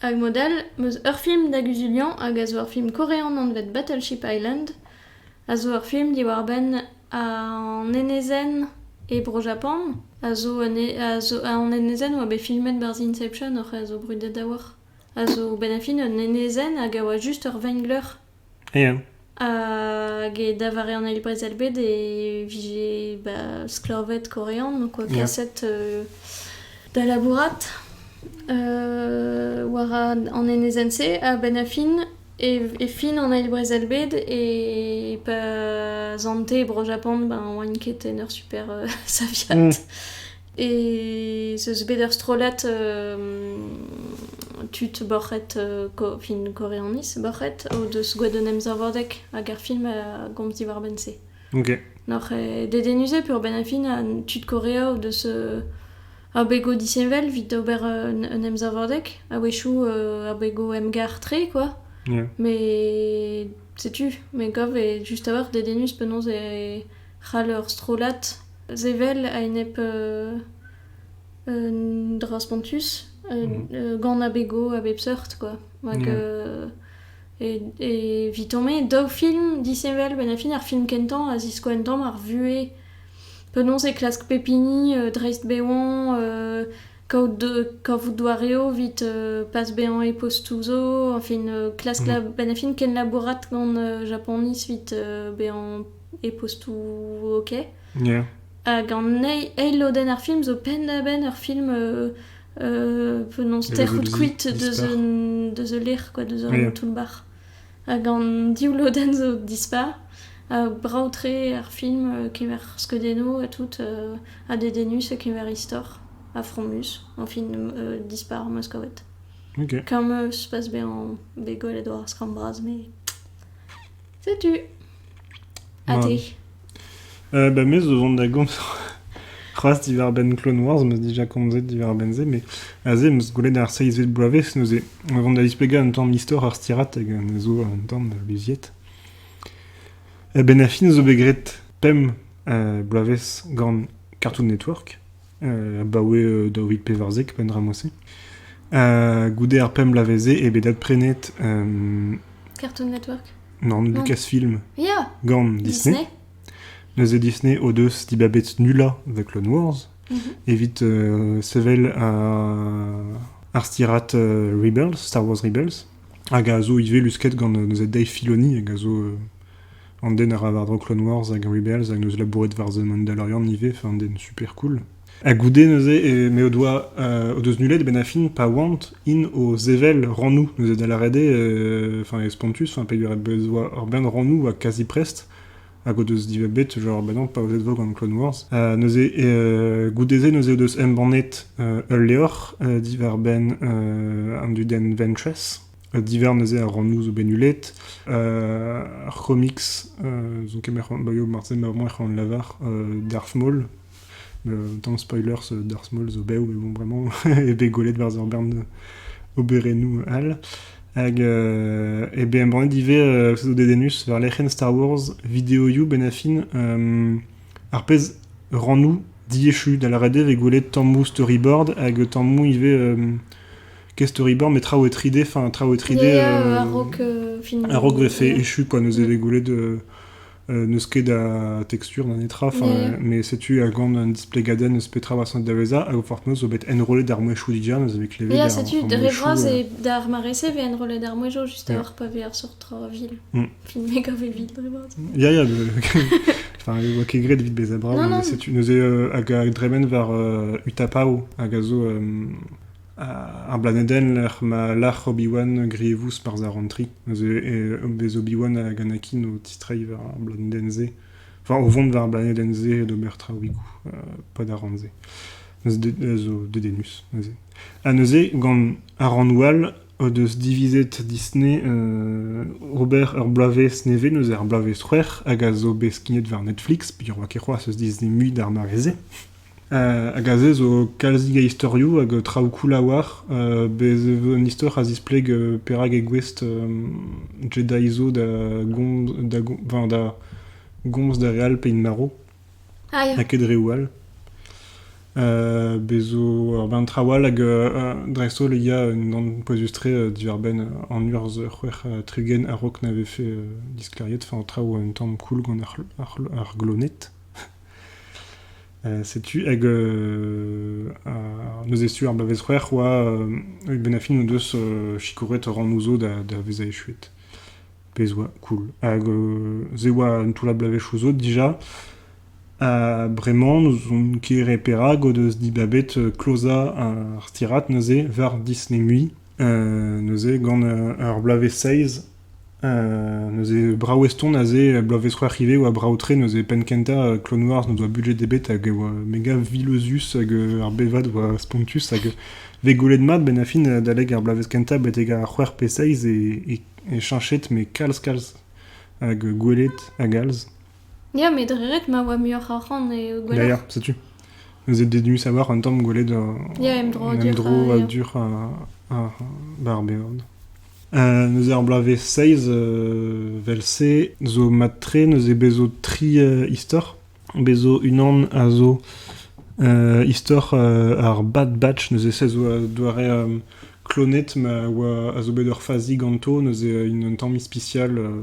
S1: Hag mod-all 'm eus ur film da guzuliañ hag a zo ur film korean anvet Battleship Island, a zo ur film diwar-benn an enezenn e Bro-Japan, a zo un e- a zo an enezenn 'oa bet filmet 'barzh Inception oc'h a zo brudet a-walc'h, a zo 'benn ar fin un enezenn hag a oa just ur vengler Ya. Hag e davare an eil brezel bed e vije ba sklaved korean, donc oa kaset da labourat war an enezenn-se a-benn a fin e fin an eil brezel bed e pa zante Bro-Japan ben oaint ket en ur super saviad. ez eus bet ur strollad tud borc'hed fin koreaniz borc'hed o deus gwelet un emsavadeg hag ar film a gomz diwar-benn-se. Ok. Noc'h eo dedennus eo peurbenn ar fin ha tud Korea o deus abego disheñvel evit ober un emsavadeg a-wechoù abego emgar-tre quoi. Yeah. Mais setu, me gav eo just a-walc'h dedennus penaos e c'hall ur strollad Sevel a-enep un dra spontus, gant abegoù a bep seurt kwa. Rak evitañ me, daou film disheñvel 'benn ar fin. Ar film kentañ a ziskoa 'n tamm ar vuhez, penaos e klask pep hini dreist bevañ, kavout doareoù evit pas bezañ e postoù zo, enfin klask 'benn ar fin kenlabourat gant Japaniz evit bezañ e postoù ok. Hag an eil lodenn ar film zo penn-da-benn ur film penaos tec'hout kuit deus the lêr, quoi, deus an toull-bac'h. Hag an div lodenn zo dispar. Ha brav-tre ar film, kemer skeudennoù ha tout, ha dedennus kemer istor, ha fromus, enfin dispar Moskowet. Comme se passe bien en bégolle et doar skramm bras, mais c'est tu. Ade. Euh, bah, me, zo vont da gomz c'hoaz diwar-benn Clone Wars, m'eus déjà komzet diwar-benn-se, mais aze m'eus gwelet ar seizvet bloavezh neuze. On vont da displegañ un tamm istor ar stirat hag un zo un tamm da luziet. Eh ben, a fin zo bet graet pemp euh, bloavezh gant Cartoon Network, euh, abaoe euh, daouit pevarzek, pendra mosi. Euh, goude ar pemp bloavezh-se, eh ben, dat prenet euh, Cartoon Network Nann, Lucasfilm. Ya. Gant Disney. Neuze Disney o deus dibabet Nula The Clone Wars, mhm. evit euh, sevel un arstirat euh, Rebels, Star Wars Rebels, hag a zo ivez lusket gant euh, neuze Dave Filoni, hag a zo an den a ra war-dro Clone Wars hag Rebels, hag neuze labouret war The Mandalorian ivez, enfin, den super cool. Ha goude neuze m'eo o doa o deus nullet a-benn ar fin pa oant int o sevel rannoù neuze da lâret eo enfin e spontus enfin peogwir ez boa ur bern rannoù ha kazi prest hag o deus dibabet genre ben non paouezet 'vo gant Clone Wars neuze goude-se neuze o deus embannet ul levr diwar-benn an dudenn Ventress divhar neuze ar rannoù zo bet nullet ar c'homics zo ket marteze marteze emañ en lavar Darth Maul Un tamm spoilers d'ar Small zo bev, mais bon, vraiment, eo bet gwelet war ur bern oberennoù all. Hag euh, eh bien, embannet ivez euh, pseudo dedennus war lec'hienn Star Wars Video You Benafin. Euh, ar pezh rant-nous diechu da lâret eo vez gwelet tammou storyboard hag tammou ivez euh, qu'est storyboard mais traoù 3D enfin traoù 3D euh, un rock euh, film un rock fait échu quoi nous avait goulet de n'eus ket a tekstur na netra, mais setu a gant un displegadenn eus petra war da vezañ, hag fortnous zo bet enrollet ar mouezhioù dija, neuze bet klevet Ya, setu, dre voaz, et d'ar mare-se vet enrollet ar mouezhioù just a-hoc'h pa vet ar sort vil. Mm. Filmet gant vit dre voaz. Ya, ya, Enfin, ne oa ket graet evit bezañ brav, non, non. setu, neuze hag a dremen war Utapao, hag a zo... Ar blanedenn lec'h ma lâr Obi-Wan grevous barzh ar Rantri neuze bez Obi-Wan hag Anakin o tistreiñ war ar blanedenn-se enfin o vont war ar blanedenn-se d'ober traoùigoù pad ar rann-se zo dedennus neuze. Ha neuze gant ar rannoù all o deus divizet Disney ober ur bloavezh nevez neuze ar bloavezh c'hwec'h hag a zo bet skignet war Netflix peogwir ket c'hoazh eus Disney mui d'ar mare-se. Hag aze zo kalzik a istorioù hag traoù cool a-walc'h. Bez' e vo un istor a zispleg perak eo gouest Jedi zo da gomz da go- enfin da gomz d'ar re all p'int marv, Ah ya. ha ket reoù all. Bez' zo ur bern traoù all hag dreist-holl il y a unan pouezus-tre diwar-benn an urzh c'hwec'h tregont a-raok na vefe disklêriet, enfin traoù un tamm cool gant ar c'hlo- ar c'hlo- ar gloned. Setu hag neuze sur ar bloavezh-c'hwec'h oa hag benn ar fin o deus sikouret rannoù zo da vezañ echuet. Pezh oa cool. Hag se oa un toullad bloavezhioù zo dija. Ha bremañ n'ouzon ket re perak o deus dibabet klozañ ar stirad neuze war Disney Mui neuze gant ur bloavezh seizh Neuze brav eston aze, bloavezh c'hwec'h ivez e oa brav-tre, neuze penn-kentañ Clonwarz n'o doa budget ebet hag e oa mega vilozus hag ar bevad oa spontus hag vez gwelet mat benn ar fin adalek ar bloavezh kentañ betek ar c'hwec'h pe seizh eo chanchet met kalz-kalz hag gwelet hag alz. Ya, met re ret ma oa muioc'h arc'hant e Gwened. Ya, ya, setu. Ze denu savoir un tamm gwelet euh, Ya, emdro un emdro a dur a ba ar beord. Euh, neuze ar bloavezh 6 euh, vel-se zo mat-tre neuze bezo tri euh, istor. Bezo unan a zo euh, istor euh, ar Bad Batch, neuze se zo un doare euh, klonet ma oa a zo bet ur fazi ganto, neuze un tamm ispisial euh,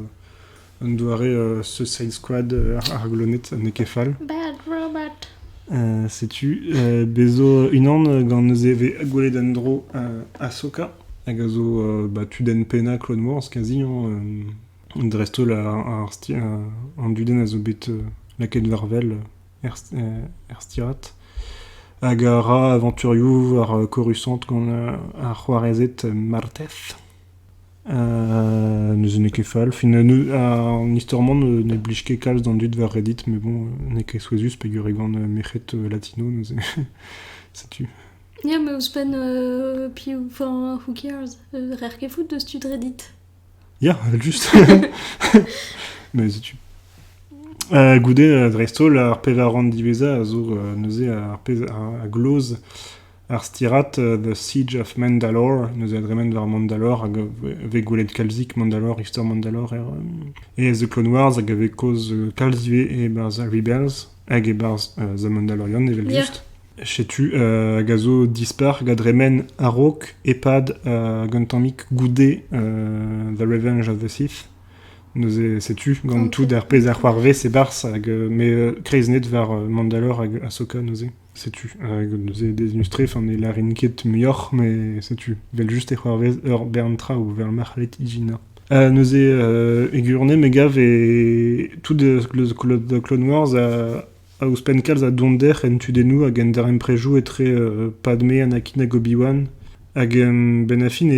S1: Un doare Suicide Squad ar gloned n'eo ket fall. setu bez zo unan gant neuze e vez gwelet en-dro Ahsoka hag a zo ba tudenn pennañ Clone Wars kazi hañ dreist-holl ar an dudenn a zo bet lakaet war wel er stirad hag a ra avañturioù war Coruscant gant ar c'hoarezed Marteth. Neuze n'eo ket fall. Fin an istor-mañ ne blij ket kalz d'an dud war Reddit, mais bon, n'eo ket souezhus peger e gant merc'hed latino neuze. Setu. Ya, mais ouzhpenn piv... Enfin, who cares? Rer ket fout deus tud Reddit. Ya, evel-just. Mais setu. Goude, dreist-holl, ar pevar rann diwezhañ a zo neuze ar pezh a gloz Ar stirad The Siege of Mandalore, neuze a dremen war Mandalore hag a vez gwelet kalzik Mandalore, istor Mandalore er The Clone Wars hag a vez kaoz kalz ivez e-barzh Rebels hag e-barzh The Mandalorian evel-just. Setu hag a zo dispar hag a dremen a-raok e-pad hag un tammig goude The Revenge of the Sith. Neuze setu gant tout ar pezh a c'hoarvez e-barzh hag m'eo kreiznet war Mandalore hag Ahsoka neuze. Setu, hag neuze deznus-tre, ne lârin ket muioc'h, mais setu, vel-just e c'hoarvez ur bern traoù vel ma c'hellit ijinañ. Ha neuze, e gwirionez, me gav e tout da Clone Wars a ouzhpenn kalz a donder en tudennoù hag en darempredoù etre Padme, Anakin hag Obi-Wan. Hag benn ar fin,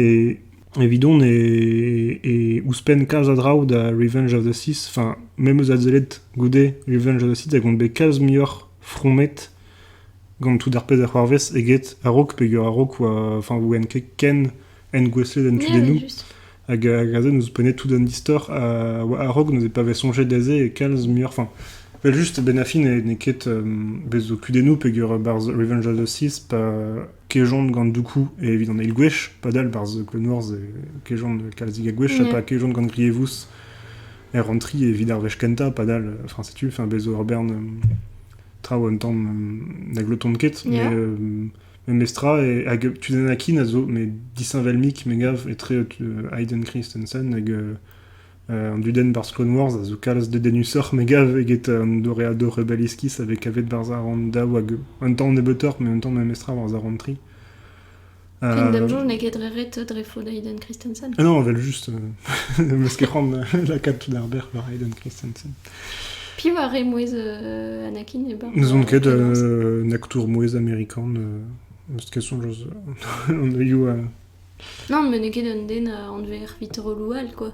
S1: evidon, e ouzhpenn kalz a draoù da Revenge of the Sith, enfin, memes adsellet goude Revenge of the Sith a gont bet kalz muioc'h fromet gant tout ar pezh a c'hoarvez eget a-raok peger a-raok oa enfin ouen ket ken engouestlet en tudennoù hag aze nouzhpennet tout an istor a oa a-raok neuze pa vez soñjet aze e kalz muioc'h enfin vel just ben a fin n'eo ket bez zo kudennoù peger barzh Revenge of the Sith pa kejont gant Dooku evit an eil gwech padal barzh Clone Wars e kejont kalzig a gwech ha pa kejont gant Grievous e rentri evit ar wech kentañ padal, enfin setu, enfin bez zo ur bern traoù un tamm na glotont ket, yeah. mais euh, memestra, e, hag Tutankhamun a zo mais disheñvel-mik, me gav, etre euh, Hayden Christensen hag euh, euh, an dudenn barzh Clone Wars a zo kalz dedennusoc'h, me gav, eget an doreado rebeliskis avec avet barzh ar daou hag un tamm nebeutoc'h, mais un tamm memestra war ar rentri. Fin d'am jour n'eo ket dre ret dre faot Hayden Christensen. Ah non, vel just. Meus ket c'hoant lakaat tout ar ber war Hayden Christensen. Pi war re mouezh euh, Anakin e bar. N'ouzon ket, euh, naktour mouezh amerikan. Euh, eus question, joz, on a eu... Euh, non, mais n'eo ket un den euh, anvet ar vit rolou all, quoi.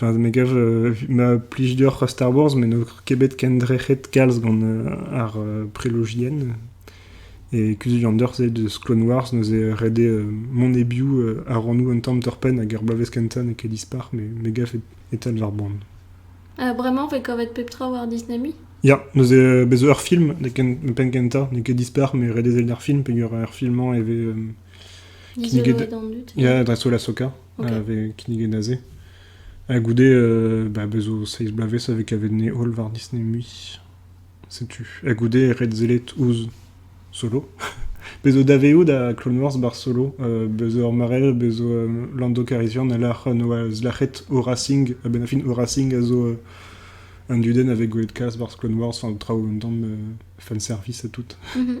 S1: Enfin, me gav ma plij deoc'h Star Wars, met n'eo ket bet kendrec'het kalz gant ar prelogienn. E Kuzul an Deurzh eus Clone Wars neuze ret eo mont e-biou a ran un tamm torr-penn hag er bloavezh kentañ n'eo ket dispar, mais me gav e talv ar boan. Bremañ 'vez kavet pep tra war Disney Me? Ya, neuze bez zo ur film penn kentañ, n'eo ket dispar, mais ret eo sellet ar film peogwir ar filmañ e vez Kinniget, ya, dreist-holl Ahsoka a vez kinniget aze. Ha goude, euh, bah, bez zo seiz bloavezh a vez kavet Ney Hall war Disney Mui. Setu. Ha goude Red Zelet ouzh Solo. Bez zo dave out da Clone Wars bar Solo. Euh, bez zo ur mare, bez zo euh, Lando Calrissian a lâr noaz lâc'het Horasing. Ha ben a fin Horasing a zo euh, un duden avec goet kas bar Clone Wars, enfin traoù un tamm euh, fanservice et tout. Mm -hmm.